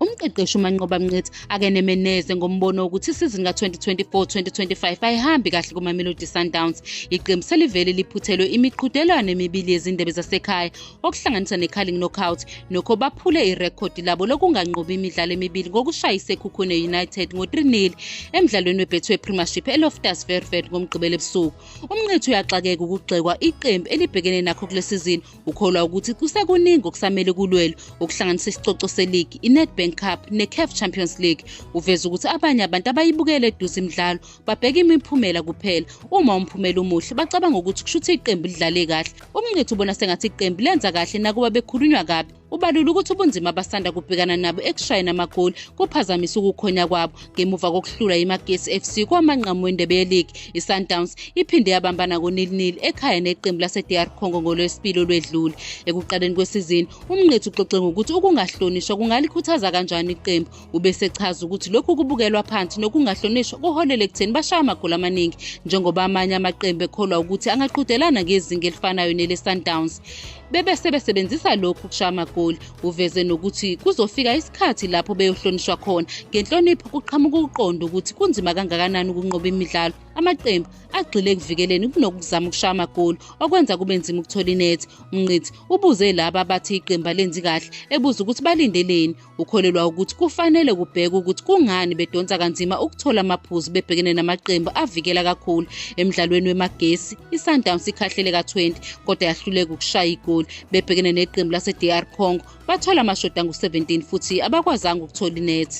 Umqeqeshi uManqoba Mnqithi akeneme neze ngombono wokuthi isizini ka-2024-2025 ayihambi kahle kuMamelodi Sundowns. Iqembu selivele liphuthelwe imiqhudelwano emibili yezindebe zasekhaya okuhlanganisa neCarling Knockout nokho baphule irekhodi labo lokunganqobi imidlalo emibili ngokushaya iSekhukhune United ngo-3-0 emdlalweni weBetway Premiership eLoftus Vervet ngoMgqibelo ebusuku. UMnqithi uyaxakeka ukugxekwa iqembu elibhekene nakho kule sizini Ukholwa ukuthi kusekuningi okusamele kulwelwe okuhlanganisa isicoco seligi, iNedbank Cup neCAF Champions League. Uveza ukuthi abanye abantu abayibukele eduze imidlalo babheka imiphumela kuphela. Uma umphumela umuhle bacabanga ukuthi kushuthi iqembu lidlale kahle. Umncithu ubona sengathi iqembu lenza kahle nakuba bekhulunywa kabi. Ubalula ukuthi ubunzima abasanda kubhekana nabo ekushayeni amagoli kuphazamisa ukukhonya kwabo. ngemuva kokuhlula imagesi fc kwamanqamu wendebe yeligi isundowns iphinde yabambana konilnil ekhaya neqembu lasedr congo ngolwesibili olwedlule ekuqaleni kwesizini umnqethu uxoxe ngokuthi ukungahlonishwa kungalikhuthaza kanjani iqembu ubesechaza ukuthi lokhu kubukelwa phansi nokungahlonishwa kuholele ekutheni bashaya amagoli amaningi njengoba amanye amaqembu ekholwa ukuthi angaqhudelana ngezinga elifanayo nelesundowns bebe sebesebenzisa lokhu kushaya amagoli uveze nokuthi kuzofika isikhathi lapho beyohlonishwa khona ngenhlonipho kuqhamuka ukuqonda ukuthi kunzima kangakanani ukunqoba imidlalo amaqembu agxile ekuvikeleni kunokuzama ukushaya amagoli okwenza kube nzima ukuthola inethi umnqithi ubuze laba abathi iqembu alenzi kahle ebuza ukuthi balindeleni Ukholelwa ukuthi kufanele kubhekwe ukuthi kungani bedonsa kanzima ukuthola amaphuzu bebhekene namaqembu avikela kakhulu emdlalweni wemagesi iSundowns ikhahlele ka-20 kodwa yahluleka ukushaya igoli bebhekene neqembu lase-DR Congo bathola amashoda angu-17 futhi abakwazanga ukuthola inethi